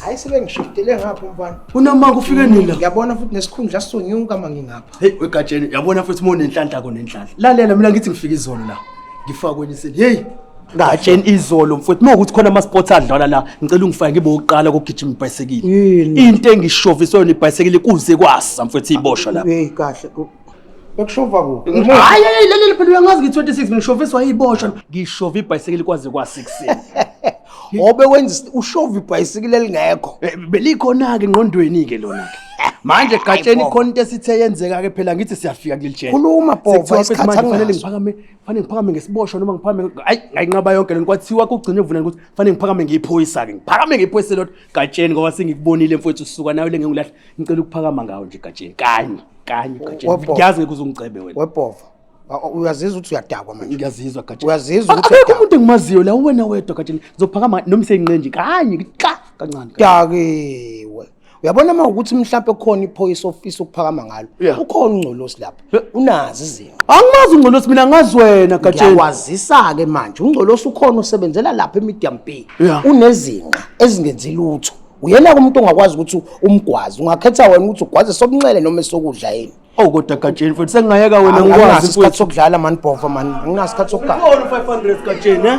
hayi sebengishiftele ngapho mfana kunama kufike nini la ngiyabona futhi nesikhundla sonyuka uma ngingapha hey wegatsheni uyabona futhi uma unenhlanhla ko nenhlanhla lalela mina ngithi ngifika izolo la ngifakwe niseli hey ngatsheni izolo mfowethu uma ukuthi khona ama-sports adlala la ngicela ungifake ngibe wokuqala kokugijima ibhayisekile into engishoviswe yona ibhayisekile kuze kwasa mfowethu iboshwa la hey kahle Bekushova kuphi? Hayi hayi leli phela uyangazi ngi 26 ngishoviswa iboshwa. Ngishova ibhayisekeli kwaze kwa 6. Obe wenza ushova ibhayisekeli elingekho. Eh, Belikhona ke ngqondweni ke lona ke. Manje gatsheni khona into esithe yenzeka ke phela ngithi siyafika kuleli jele. Khuluma bhova isikhathi angifane ngiphakame, fanele ngiphakame ngesiboshwa noma ngiphakame ayi ngayinqaba yonke lento kwathiwa kugcine uvuna ukuthi fanele ngiphakame ngiyiphoyisa ke. Ngiphakame ngiyiphoyise lodwa. Gatsheni ngoba sengikubonile mfowethu suka nawe le ngengulahle ngicela ukuphakama ngawo nje Gatsheni kanye kanye Gatsheni Wabhova. ngiyazi ngeke uzungicebe wena webhova Wa- wa- uyazizwa ukuthi uyadakwa manje ngiyazizwa Gatsheni Uyazizwa Ak- ukuthi akekho uyadakwa. umuntu engimaziyo la uwena wedwa Gatsheni ngizophakama noma seyinqenje kanye ka kancane Gatsheni. dakiwe uyabona uma ukuthi mhlawumbe khona iphoyisa ofisa ukuphakama ngalo Yeah. ukhona ungcolosi lapho unazi izinto angimazi ungcolosi mina ngazi wena gatsheni ngiyakwazisa-ke manje ungcolosi ukhona usebenzela lapha emedium bay yeah. unezinqa ezingenzi lutho uyena-ke umuntu ongakwazi ukuthi umgwazi ungakhetha wena ukuthi ugwaze sokunxele noma esokudla yini Oh kodwa gatsheni mfethu sengingayeka wena ngikwazi mfethu. Isikhathi sokudlala man Bhova man. Anginaso isikhathi sokugala. Ngibona 500 gatsheni eh.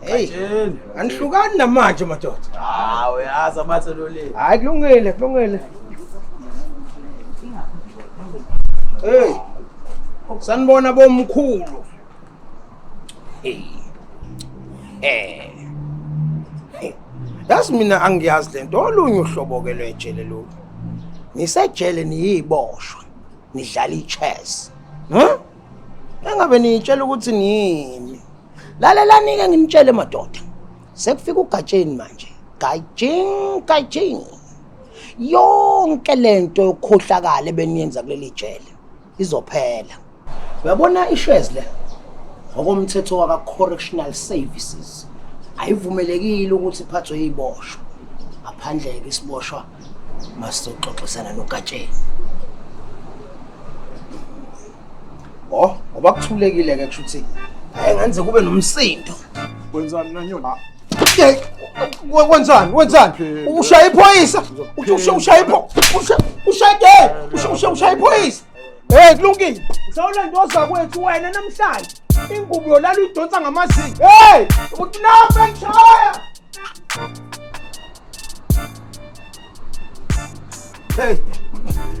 Hey, anihlukani namanje madoda. Ah, uyazi amathe lo le. Hayi kulungile, kulungile. Hey. Sanibona bomkhulu. Hey. Eh. Yazi mina angiyazi lento olunye uhlobo ke lwejele lo. Nisejele niyiboshwa. Nidlala ichess. Huh? engabe niyitshela ukuthi nini lalelani-ke nginitshele madoda sekufika ugatsheni manje gajing gajing yonke le nto yokukhohlakala ebeniyenza kuleli jele izophela uyabona ishes le ngokomthetho waka-correctional services ayivumelekile ukuthi iphathwe yiboshwa ngaphandle-ke isiboshwa masizoxoxisana nogatsheni o oh, ngoba kuthulekile ke kusho ukuthi ayengenze kube nomsindo wenzani nanyona wenzani wenzani ushaya iphoyisa ushaya iphoyisa ushaya iphoyisa Hey kulungile. Sawulanda ozakwethu wena namhlanje. Ingubo yolala uyidonsa ngamazinga. Hey, ukunapha ngishaya. Hey.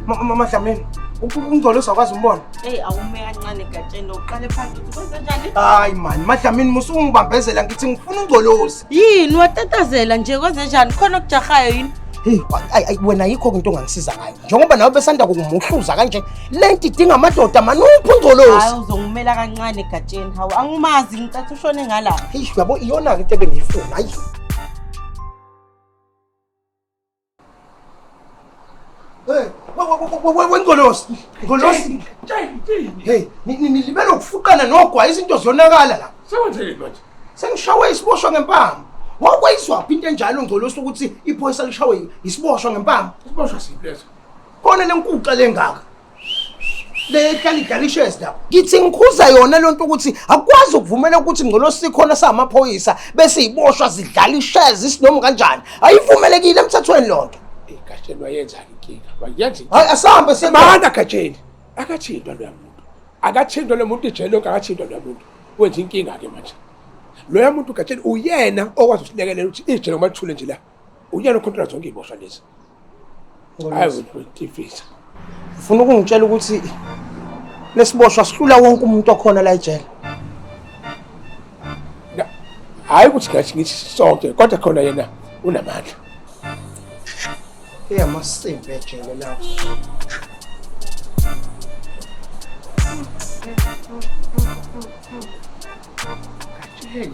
Mama Dlamini. Ungcolo usakwazi umbona? Hey, awume kancane gatsheni uqale phansi ukuthi kwenze njani? Hayi man, Madlamini musu ungibambezela ngithi ngifuna ungcolosi. Yini watatazela nje kwenze njani? Khona okujahayo yini? Hey, ay ay wena yikho into ongangisiza ngayo. njengoba nawe besanda kumuhluza kanje le nto idinga amadoda mani uphi ungcolosi hayi uzongimela kancane egatsheni hawu angimazi ngicatha ushone ngala eish yabo iyona-ke into ebengiyifuna hayi wengolosi ngolosi hey nilibele ukufuqana nogwayi izinto ziyonakala la sekwenzekile manje Sengishawe isiboshwa ngempama. Wakwayizwa phi into enjalo ngcolosi ukuthi iphoyisa lishawe isiboshwa ngempama. Isiboshwa siphi leso? Khona lenkuxa lengaka. lehlala idalishes lapho ngithi ngikhuza yona lento ukuthi akwazi ukuvumela ukuthi ngcolosi khona samaphoyisa bese iboshwa zidlala ishes isinoma kanjani ayivumelekile emthethweni lonto ikashelwa yenzani inkinga bayenza hayi asambe sebanda gatsheni akathintwa loya muntu akathintwa lo muntu ijele lonke akathintwa loya muntu wenza inkinga-ke manje loya muntu gatsheni uyena okwazi ukusilekelela ukuthi ijele ngoba lithule nje la uyena okhontrola zonke iy'boshwa lezi hayi utifisa ufuna ukungitshela ukuthi lesiboshwa sihlula wonke umuntu okhona la ejele hhayi ukuthi ngathi ngithi sonke kodwa khona yena unamandla eyamasimbi ejele lawo Hey.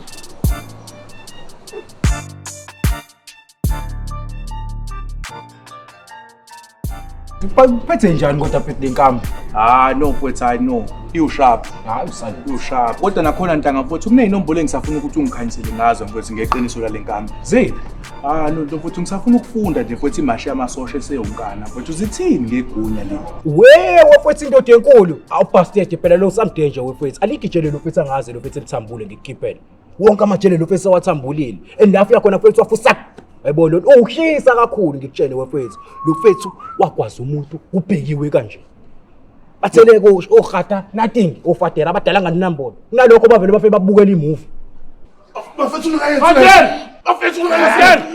Uphethe njani kodwa phethi lenkambi? Ah no mfowethu I know. Iwusharp. Hayi usale. Iwusharp. Kodwa nakhona ntanga mfowethu kunezinombolo engisafuna ukuthi ungikhanyisele ngazo mfowethu ngeqiniso lale nkambi. Ziphi? Ah no mfowethu ngisafuna ukufunda nje mfowethu imashi yamasosha eseyonkana. Mfowethu zithini ngegunya leli? Wee wafethu indoda enkulu. Awubhastede phela lo samdenje wefethu. Aligijele lo fethu angazi lo fethu elithambule ngikukhiphele. wonke amajele lo fethu sewathambulile and la afika khona fethu wafusa yebo lo ushisa kakhulu ngikutshele wefethu lo fethu wagwaza umuntu ubhekiwe kanje bathele kusho ogata nothing ofadela abadala nganinambolo kunalokho bavele bafike babukela imovie bafethu ungayenzi bafethu ungayenzi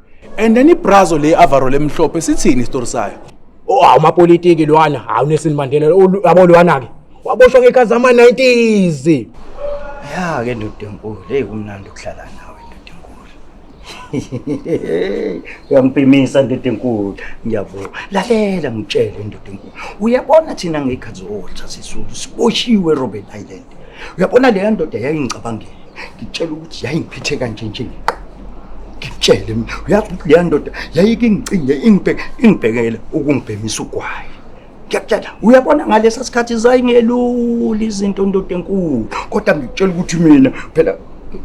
And then ibrazo le avaro lemhlophe sithini isitori sayo? Oh, hawu mapolitiki lwana, hawu Nelson Mandela, olu- yabo lwana-ke. Waboshwa ngekhathi zama-90s. Ya ke ndoda enkulu, hey kumnandi ukuhlala nawe ndoda enkulu. Uyampimisa ndoda enkulu, ngiyabonga. Lalela ngitshele ndoda enkulu. Uyabona thina ngekhathi zotha sisulu siboshiwe Robben Island. Uyabona leya ndoda yayingicabangela. ngitshela ukuthi yayingiphethe kanje nje ngiqa ngitshele mina uyazi ukuthi leya ndoda yayike ingicinge ingibheke ingibhekele ukungibhemisa ugwayi ngiyakutshela uyabona ngalesa sikhathi zayingelula izinto ndoda enkulu kodwa ngikutshela ukuthi mina phela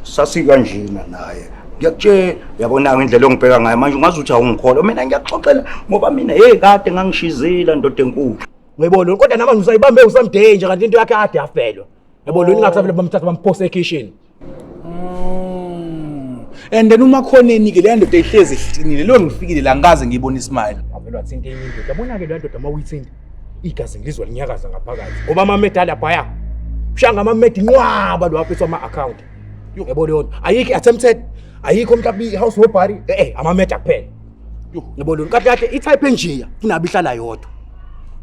sasikanjena naye ngiyakutshela yabona-ke indlela ongibheka ngayo manje ungazi ukuthi awungikholwa mina ngiyakuxoxela ngoba mina heyi kade ngangishizile ndoda enkulu ngiyibona kodwa namanje usayibambe usamdeye nje kanti into yakhe ade yafelwa Yabo lo ningathi vele bamthatha bamphose ekitchen. Mm. And then uma khona enike le ndoda ehlezi ihlcinile lo ngifikile la ngikaze ngiyibona ismile. Avela thinta enye indoda. Yabona ke le ndoda uma uyithinta igazi ngilizwa linyakaza ngaphakathi. Ngoba ama medal abhaya. Ushanga ama med inqwaba lo aphethe ama account. Yebo leyo ayikho attempted ayikho mhlawumbe i house robbery eh eh ama med kuphela. yebo lona kade kade itype enjeya kunabe ihlala yodwa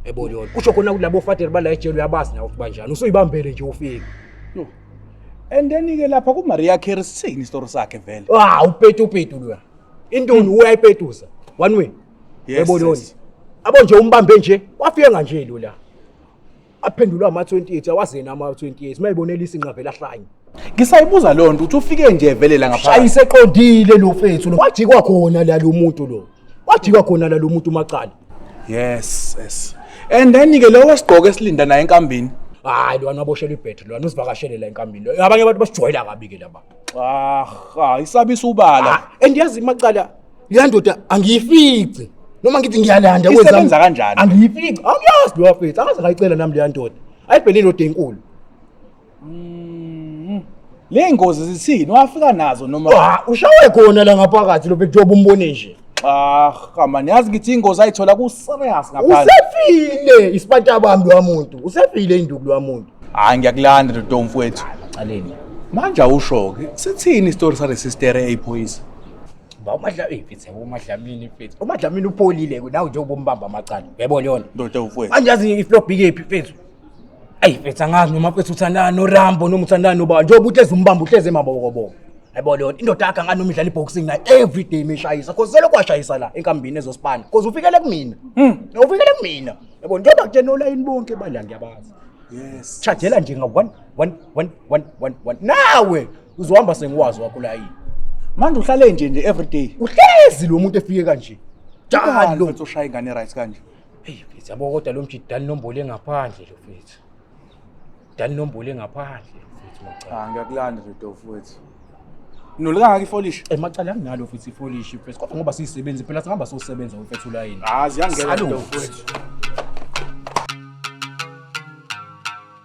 yebo lona kusho khona kulabo father bala ejele uyabazi nawe banjani usuyibambele nje ufike and then ke lapha ku Maria Carey sithini story sakhe vele ah upetu upetu lo intoni hmm. uyayipetuza one way yebo lona abo nje umbambe nje wafika kanje lo la aphendulwa ama-28 awazeni ama-28 mayibonelisa inqavela hlanye ngisayibuza loo nto uthi ufike nje vele la ngapha ayiseqondile lo fethu lo wajikwa khona la lo muntu lo wajikwa khona la lo muntu umacala yes yes and then ke lowo esigqoke esilinda naye enkambini hayi lwana aboshelwe ibhetri lwana usivakashele la enkambini lo abanye abantu basijwayela kabi ke laba ah isabiso ubala and yazi imacala leya ndoda angiyifici noma ngithi ngiyalanda kwenzani? Isebenza kanjani? angiyifici angiyazi leyo afethu angaze ngayicela nami leya ndoda ayibhele indoda enkulu Mm. Le ngozi zithini? Wafika nazo noma Ah, ushawe khona la ngaphakathi lo bheki njengoba umbone nje ah kama niyazi ngithi ingozi ayithola ku serious ngaphandle. usefile isipanta bami lowa muntu usefile induku lowa muntu Hayi ngiyakulanda Dodo mfowethu. Caleni. Manje awusho ke sithini isitori sale sister eyiphoyisa? Ba umadlamini mfethu umadlamini mfethu. Umadlamini upholile ke nawe njengoba umbamba amacala. Yebo leyona. Ndoda ufwethu. Manje yazi iflop ikephi mfethu. Ayi mfethu angazi noma mfethu uthandana noRambo noma uthandana nobani. Njengoba uhlezi umbamba uhlezi emabokoboko. Yebo leyona indoda yakhe angani noma idlala iboxing naye every day meshayisa. Cause selokhu washayisa la enkambini ezospana. Cause ufikele kumina. Mm. Ufikele kumina. Yebo njengoba kutshena olayini bonke bala ngiyabazi. Yes. Chajela nje nga 1 1 1 1 1 nawe uzohamba sengiwazi wakho la yini manje uhlale nje nje every day uhlezi lo muntu efike kanje Jalo. jalo uthi ushaya ingane right kanje Hey mfethu yabo kodwa lo mjidi dani nombole ngaphandle lo mfethu. Dani nombole ngaphandle lo mfethu macala. cha ngiyakulanda nje dofu wethu nolukangaka ifolish Emacala anginalo mfethu ifolish mfethu kodwa ngoba siyisebenzi phela singaba sosebenza mfethu la yini. hayi ziyangena Salu. dofu wethu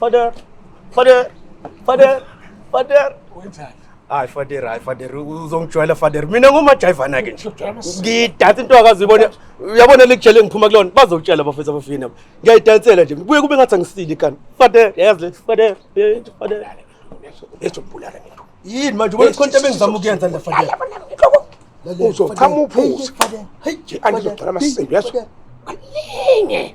Father, father, father, father. Wenzani? Hayi father, hayi father, uzongijwayela father. Mina ngumajayivana ke nje. Ngidansa into akazibone. Uyabona likujele ngiphuma kulona. Bazokutshela abafethu abafini abo. Ngiyayidansela nje. Kuye kube ngathi angisile ikani. Father, yazi le father, eh, father. Ezobulala nento. Yini manje ubona konke ebengizama ukuyenza la father. Uzochama uphuze. Hey, angizogcina amasendo yazo. Kaningi.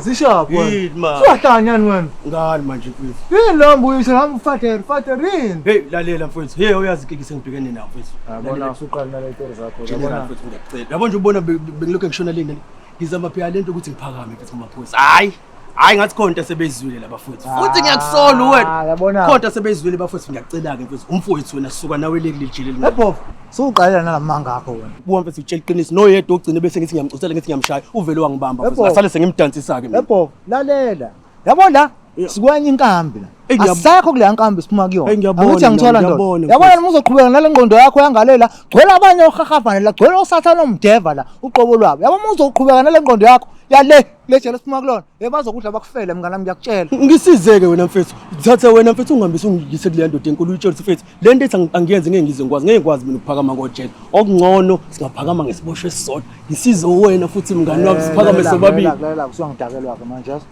zishaphahlanyani wena ngani manje mfethu yini lo mbuyise hamba ufatere fatere yini heyi lalela mfethu ye uyazi kiki sengibhekene nawo mfethu yabona usuqala naletori zakho yabona mfethu ngiyakucela yabona nje ubona bengilokhu ngishona leni ngizama phela lento ukuthi ngiphakame mfethu kumaphoyisa hayi hayi ngathi khona into esebeyizwile labafowethu ah, futhi ngiyakusola uwena khona into esebeyizwile bafowethu ngiyacela-ke mfowethu umfowethu wena suka nawe leli lijele linobovu suwuqalela nalamanga akho wena buwa mfethu utshela iqiniso noyedwa ogcine bese ngithi ngiyamcosela ngithi ngiyamshaya uvele wangibamba ngasale sengimdansisa-ke ebovu lalela yabo la sikwenye inkambi la asekho kuleya nkambi siphuma kuyona ukuthi angithola ndoda yabona noma uzoqhubeka nale ngqondo yakho yangalela gcwela abanye ohahafane la gcwela osathane omdeva la uqobo lwabo yabo uma uzoqhubeka nale ngqondo yakho yale le jele siphuma kulona ye bazokudla bakufele mngane wami ngiyakutshela ngisizeke wena mfethu thatha wena mfethu ungihambise ungiyise kuleya ndoda enkulu uyitshelise mfethu le nto ethi angi- angiyenzi ngeke ngize ngikwazi ngeke ngikwazi mina ukuphakama ngojele okungcono singaphakama ngesiboshwa esisodwa ngisize wena futhi mngane wami siphakame sobabili lalela usuyangidakelwa-ke manje yazi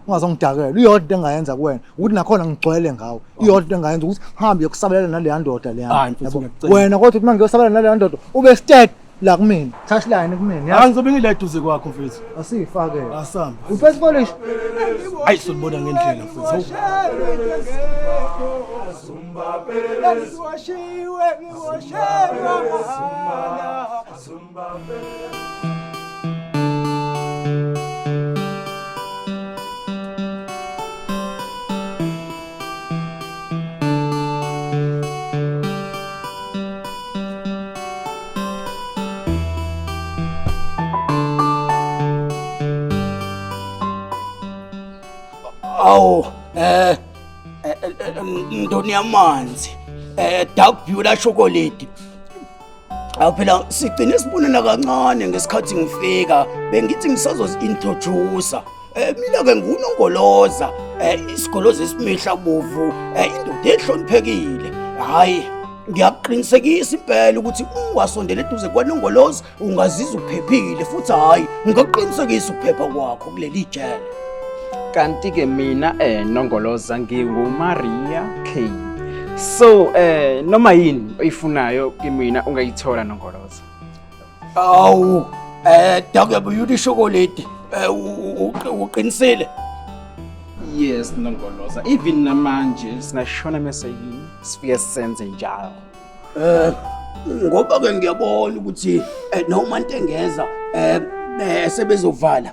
ungazongidakela iyodwa into engayenza kuwena ukuthi nakhona ngigcwele ngawo iyodwa into engayenza ukuthi ngihambe yokusabelela naleya ndoda leya Hayi, mfethu, Yabo? ngiyakucela. wena kodwa ukuthi uma ngiyosabela naleya ndoda ube sted la kumina touch line kumina hayi ngizobe ngile duze kwakho mfethu asifake asamba ufethu polish hayi sonibona ngendlela mfethu ngiwashiwe ngiwashelwa mahhala Awu eh ndoni yamanzi eh dark blue la chocolate awu phela sigcine sibonana kancane ngesikhathi ngifika bengithi ngisazozi-introducer um mina-ke ngunongoloza um isigoloza esimihla bovu um indoda ehloniphekile hhayi ngiyakuqinisekisa impela ukuthi ungasondela eduze kwanongoloza ungazizwa uphephile futhi hhayi ngingaqinisekisa ukuphepha kwakho kuleli jele kanti ke mina eh nongoloza nginguMaria K so eh noma yini oyifunayo kimina ungayithola nongoloza awu eh dake buyuti chocolate eh uqinisile yes nongoloza even namanje singashona mase yini sifike senze njalo eh ngoba ke ngiyabona ukuthi eh, noma intengeza eh, eh sebezovala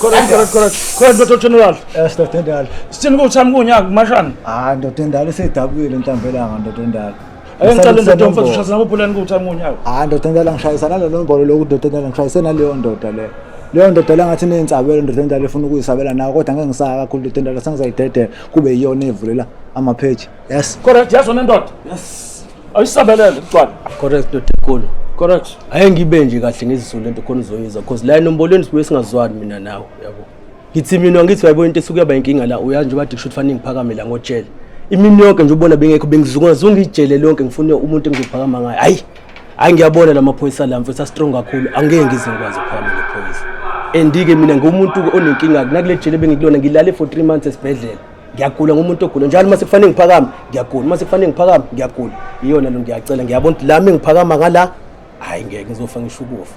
khona ndoda general ndoda endala sithini kuthi sami kunyaka kumashana hayi ndoda endala isedabukile intambelanga ndoda endala Ake ngicela ndoda yomfazi ushayisa nabo pulani kuthi amunye awu. Hayi ndoda ngicela ngishayisa nalo nombolo lokhu ndoda ngicela ngishayise naleyo ndoda le. Leyo ndoda la ngathi neyintsabelo ndoda endala efuna ukuyisabela nayo kodwa ngeke ngisaka kakhulu ndoda endala sengizayidedela kube yiyona evulela ama page. Yes. Correct yazi wena ndoda. Yes. Ayisabelele kuqala. Correct ndoda enkulu. Correct. Ayengibe nje kahle ngizisule into khona uzoyizwa because la enombolweni sibuye singazwani mina nawe yabo. ngithi mina ngithi uyayibona into esuke yaba inkinga la uyazi njengoba dikusho ukuthi fanele ngiphakame la ngotshele imini yonke nje ubona bengekho bengizungazunga ijele lonke ngifune umuntu engizophakama ngayo hayi hayi ngiyabona la maphoyisa la mfethu astrong kakhulu angeke ngize ngikwazi ukuphakama ngephoyisa andike mina ngumuntu onenkinga kunakule jele bengikulona ngilale for 3 months esibhedlela ngiyagula ngumuntu ogula njalo uma sekufanele ngiphakame ngiyagula uma sekufanele ngiphakame ngiyagula iyona lo ngiyacela ngiyabona ukuthi lami ngiphakama ngala hayi ngeke ngizofa ngisho ukufa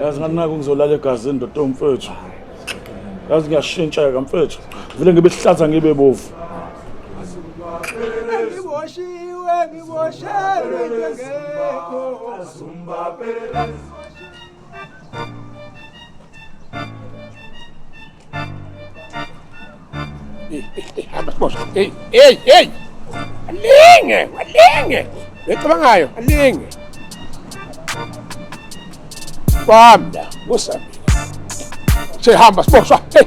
yazi nganginako ngizolala egazini ndoda mfethu yazi ngiyashintsheka mfethu vele ngibe sihlaza ngibe bovu ngiboshiwe ngiboshelwe ngekho Hey, hey, hey! Alinge, alinge! Becabangayo, alinge! Kwamda, kusami. Sihamba siboshwa. Hey!